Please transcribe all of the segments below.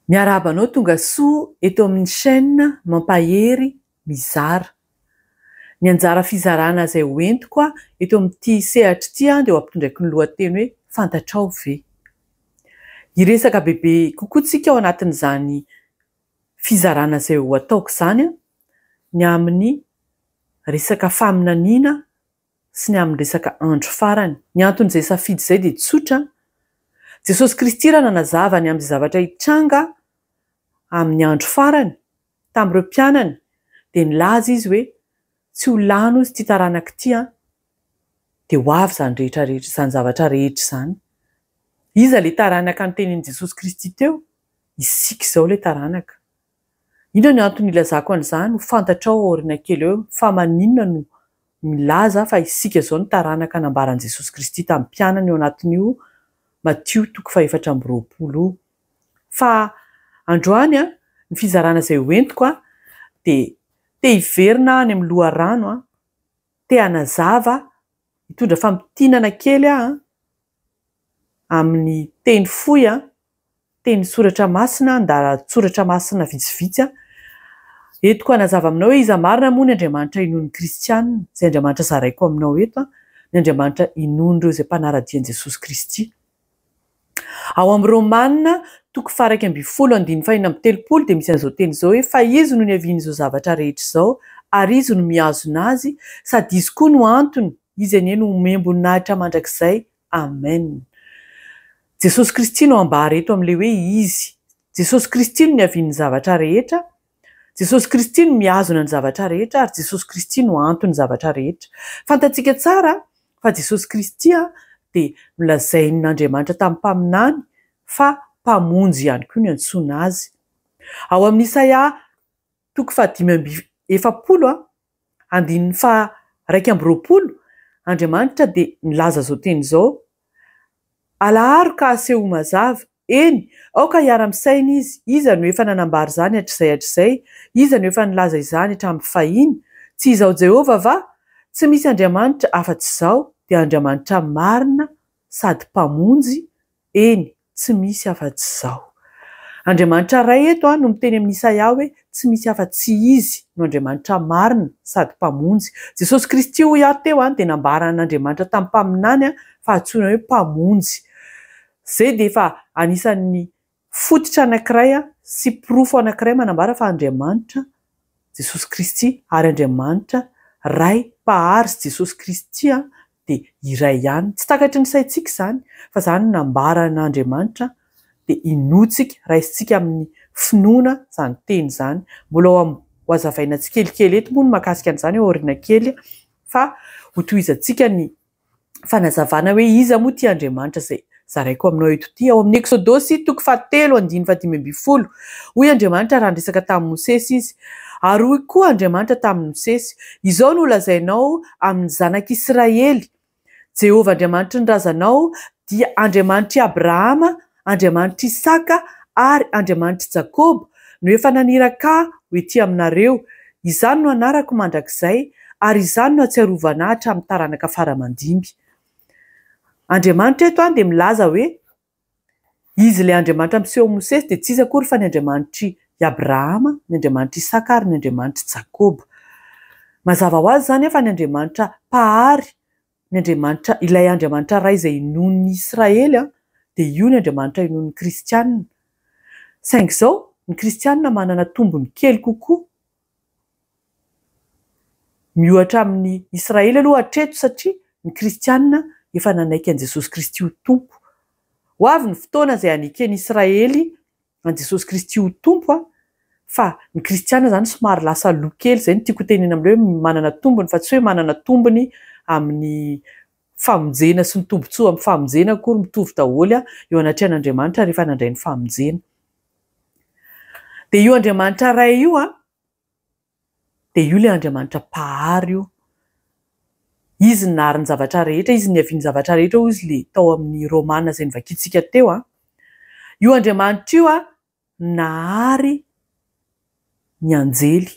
Miarahaba anao tonga soa eto amin'ny chaîne mampahery mizara. Ny anjara fizarana izay ho entiko aho eto amin'ity sehatra ity dia ho ampitondraiko ny lohateny hoe Fantatrao ve? Hiresaka bebe kokoa tsika ao anatin'izany fizarana izay ho ataoko izany ny amin'ny resaka faminaniana sy ny amin'ny resaka andro farany. Ny anton'izay safidy izay dia tsotra, Jesosy Kristy raha nanazava ny amin'izay zavatra hitranga amin'ny andro farany Tamin'ireo mpianany dia nilaza izy hoe, Tsy ho lany hozy ity taranaka ity an! Dia ho avy izany rehetra rehetra, izany zavatra rehetra izany. Iza ilay taranaka notenenin'i Jesosy Kristy teo? Isika izao ilay taranaka. Inona ny antony hilazako an'izany? Ho fantatrao aoriana kely eo fa maninona no milaza fa isika izao ny taranaka nambaran'i Jesosy Kristy tamin'ny mpianany ao anatin'io Matio toko fahefatra amby roapolo io. Fa androany an, ny fizarana izay ho entiko an, dia te hiverina any amin'ny loharano an, te hanazava, hitondra famintinana kely aho an, amin'ny teny fohy an, teny soratra masina, andalan-tsoratra masina vitsivitsy an. Entiko hanazava aminao hoe iza marina moa ny Andriamanitra inoan'ny kristiana, izay Andriamanitra zaraiko aminao eto an, ny Andriamanitra inoan'ireo izay mpanara-dia an'i Jesosy Kristy. Ao amin'ny Romana, toko faha iraika ambin'ny folo andininy fahenina amby telopolo dia misy an'izao teny izao hoe, fa izy no niavian'izao zavatra rehetra izao, ary izy no mihazona azy, sady izy koa no antony, izy anie no homem-boninahitra mandrakizay. Amen. Jesosy Kristy no ambara eto amin'ilay hoe izy. Jesosy Kristy no niavian'ny zavatra rehetra, Jesosy Kristy no mihazona ny zavatra rehetra ary Jesosy Kristy no anton'ny zavatra rehetra. Fantatsika tsara fa Jesosy Kristy dia nolazain'Andriamanitra tamin'ny mpaminany fa Mpamonjy ihany koa ny antsoina Azy. Ao amin'ny Isaia toko fahadimy amby efapolo Andininy faha iraika amby roapolo, Andriamanitra dia nilaza izao teny izao, Alaharo ka asehoy mazava, eny, aoka hiara-misaina izy, iza no efa nanambara izany hatrizay hatrizay? iza no efa nilaza izany hatramin'ny fahiny? tsy izaho Jehovah va? tsy misy Andriamanitra afa-tsy izaho, dia Andriamanitra marina sady Mpamonjy, Eny, tsy misy afa-tsy Izaho. Andriamanitra Ray eto no miteny amin'i Isaia hoe tsy misy afa-tsy Izy no Andriamanitra marina sady Mpamonjy. Jesosy Kristy hoy aho teo dia nambaran'Andriamanitra tamin'ny mpaminany fa antsoina hoe Mpamonjy. Izay dia efa anisan'ny fototra anankiray sy porofo anankiray manambara fa Andriamanitra Jesosy Kristy ary Andriamanitra Ray Mpahary sy Jesosy Kristy dia iray ihany. Tsy takatry ny saintsika izany fa izany no nambaran'Andriamanitra dia hinoantsika, raisintsika amin'ny finoana izany teny izany. Mbola ho hazavaina tsikelikely eto moa ny mahakasika an'izany aoriana kely fa hotohizantsika ny fanazavana hoe iza moa ity Andriamanitra izay Zaraiko aminao eto ity, ao amin'ny Eksodosy, toko fahatelo, andininy fahadimy ambin'ny folo, Hoy Andriamanitra raha niresaka tamin'i Mosesy Izy, ary hoy koa Andriamanitra tamin'i Mosesy, Izao no holazainao amin'ny zanak'Israely, Jehovah Andriamanitry ny razanao dia Andriamanitr'i Abrahama, Andriamanitr'i Isaka ary Andriamanitr'i Jakoba no efa naniraka Ahy ho etỳ aminareo, izany no anarako mandrakizay, ary izany no hatsiarovana Ahy hatramin'ny taranaka fara aman-dimby. Andriamanitra eto dia milaza hoe, Izy ilay Andriamanitra miseho amin'i Mosesy dia tsy iza akory fa ny Andriamanitr'i Abrahama, ny Andriamanitr'i Isaka ary ny Andriamanitr'i Jakoba. Mazava ho azy izany anefa ny Andriamanitra Mpahary, ny Andriamanitra, ilay Andriamanitra Ray izay inoan'ny Israely, dia io ny Andriamanitra inoan'ny kristiana. Saingy izao, ny kristiana manana tombony kely kokoa. Miohatra amin'ny Israely aloha hatreto satria ny kristiana efa nanaiky an'i Jesosy Kristy ho Tompo. Ho avy ny fotoana izay haneken'i Israely an'i Jesosy Kristy ho Tompo fa ny kristiana izany somary lasa lo kely izay no tiako hotenena amin'ireo hoe manana tombony fa tsy hoe manana tombony amin'ny famonjena sy ny tombotsoa amin'ny famonjena akory mitovy daholo eo anatrehan'Andriamanitra rehefa nandray ny famonjena. Dia io Andriamanitra Ray io an, dia io ilay Andriamanitra Mpahary io. Izy no nahary ny zavatra rehetra, Izy no niavian'ny zavatra rehetra, hoy izy ilay tao amin'ny Romana izay novakiantsika teo an. Io Andriamanitra io an, nahary. ny anjely.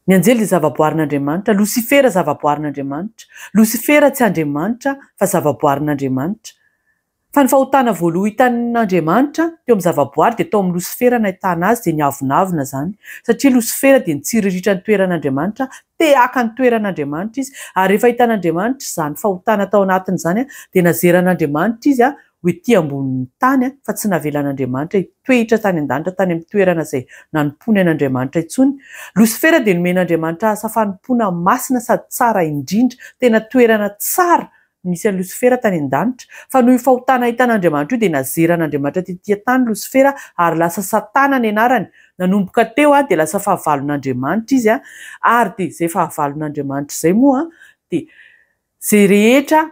Ny anjely dia zavaboarin'Andriamanitra, Losifera zavaboarin'Andriamanitra. Losifera tsy Andriamanitra fa zavaboarin'Andriamanitra. Fa ny fahotana voaloha hitan'Andriamanitra teo amin'ny zavaboary dia tao amin'ny Losifera nahitana azy dia niavonavona izany satria Losifera dia nitsiriritra ny toeran'Andriamanitra, te haka ny toeran'Andriamanitra izy ary rehefa hitan'Andriamanitra izany fahotana tao anatiny izany dia nazeran'Andriamanitra izy ho ety ambonin'ny tany, fa tsy navelan'Andriamanitra hitoeitra tany an-danitra tany amin'ny toerana izay nanompoany an'Andriamanitra intsony. Losifera dia nomen'Andriamanitra asa fanompoana masina sady tsara indrindra. Tena toerana tsara no nisy an'i Losifera tany an-danitra. Fa noho io fahotana ahitan'Andriamanitra io dia nazeran'Andriamanitra tetỳ an-tany Losifera ary lasa Satana ny anarany. Nanomboka teo dia lasa fahavalon'Andriamanitra izy, ary dia izay fahavalon'Andriamanitra izay moa dia izay rehetra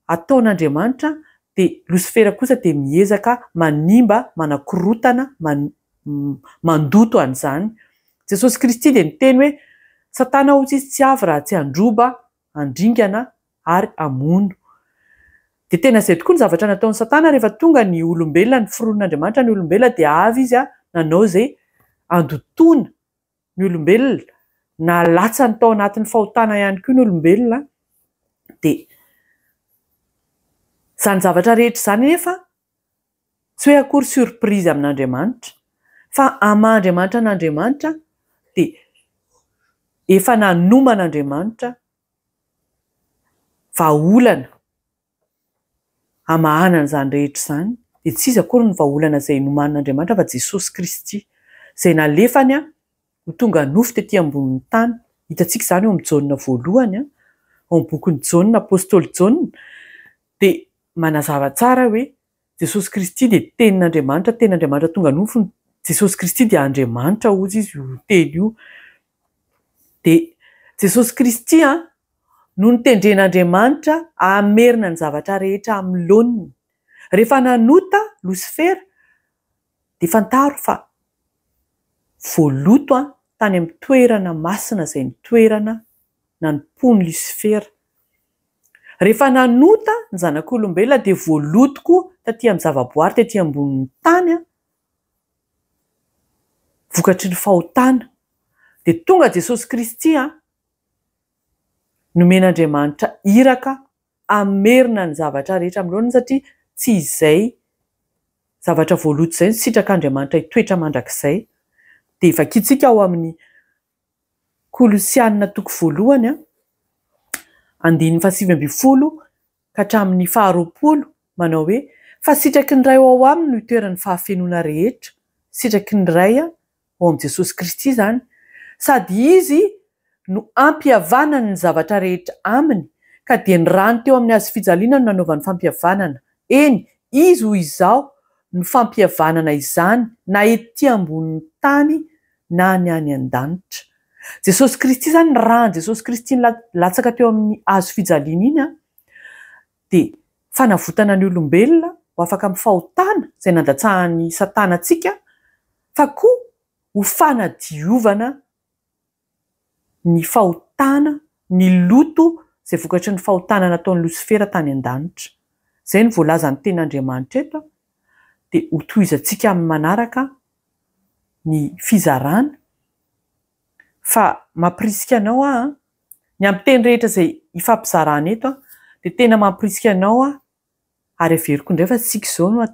ataon'Andriamanitra dia Losifera kosa dia miezaka manimba, manakorotana, mandoto an'izany. Jesosy Kristy dia niteny hoe, Satana hoy izy tsy avy raha tsy handroba, handringana ary hamono. Dia tena izay tokoa ny zavatra nataon'i Satana rehefa tonga ny olombelona, niforonon'Andriamanitra ny olombelona dia avy izy nanao izay handotoana ny olombelona, na latsany tao anatin'ny fahotana ihany koa ny olombelona, dia izany zavatra rehetra izany anefa tsy hoe akory surprise amin'Andriamanitra, fa amin'ny maha Andriamanitra an'Andriamanitra dia efa nanoman'Andriamanitra vahaolana. hamahana an'izany rehetra izany, dia tsy iza akory ny vahaolana izay nomanin'Andriamanitra fa Jesosy Kristy, izay nalefany ho tonga nofo tetỳ ambonin'ny tany. Hitantsika izany ao amin'ny Jaona voalohany, ao amin'ny bokin'i Jaona, apostoly Jaona dia manazava tsara hoe. Jesosy Kristy dia Tenin'Andriamanitra, Tenin'Andriamanitra tonga nofo, Jesosy Kristy dia Andriamanitra hozy izy io Teny io. Dia Jesosy Kristy an, no notendren'Andriamanitra hamerina ny zavatra rehetra amin'ny laoniny. Rehefa nanota Losifera, dia fantaro fa voaloto tany amin'ny toerana masina izay ny toerana nanompoan'i Lisifera. Rehefa nanota ny zanak'olombelona dia voaloto koa taty amin'ny zavaboary tety ambonin'ny tany vokatry ny fahotana. Dia tonga Jesosy Kristy nomen'Andriamanitra iraka. hamerina ny zavatra rehetra amin'ny laoniny satria tsy izay zavatra voaloto izay no sitrak'Andriamanitra hitoetra mandrakizay. Dia vakintsika ao amin'ny Kolosiana toko voalohany andininy fahasivy ambin'ny folo ka hatramin'ny faharoapolo manao hoe, Fa sitraky ny Ray ao aminy no itoeran'ny fahafenoana rehetra, sitraky ny Ray ao amin'i Jesosy Kristy izany, sady Izy no ampihavanany ny zavatra rehetra aminy, ka dia ny rany teo amin'ny Hazo fijaliana no nanaovany fampihavanana, eny, Izy hoy Izaho no fampihavanana izany na ety ambonin'ny tany na ny any an-danitra. Jesosy Kristy izany, ny ran'i Jesosy Kristy nilatsaka teo amin'ny Hazo fijaliana iny an, dia fanavotana ny olombelona ho afaka amin'ny fahotana izay nandatsahan'i Satana antsika fa koa ho fanadiovana ny fahotana, ny loto izay vokatry ny fahotana nataon'i Losifera tany an-danitra. Izay no voalazan'ny Tenin'Andriamanitra eto dia hotohizantsika amin'ny manaraka ny fizarana. fa mampirisika anao aho an, ny amin'ny teny rehetra izay hifampizarana eto an, dia tena mampirisika anao aho, ary averiko indray fa isika izao no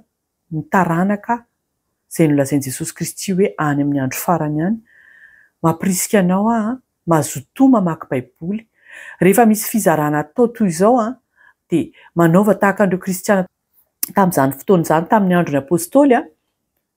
ny taranaka izay nolazain'i Jesosy Kristy hoe any amin'ny andro farany any, mampirisika anao aho an, mazotoa mamaky baiboly, rehefa misy fizarana atao toy izao an, dia manaova tahaka an'ireo kristiana tamin'izany fotoana izany tamin'ny andron'ny apostoly an,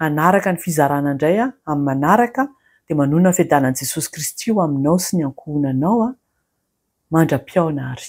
Hanaraka ny fizarana indray amin'ny manaraka dia manoana ny fiadanan'i Jesosy Kristy ho aminao sy ny ankohonanao mandra-pihaona ary.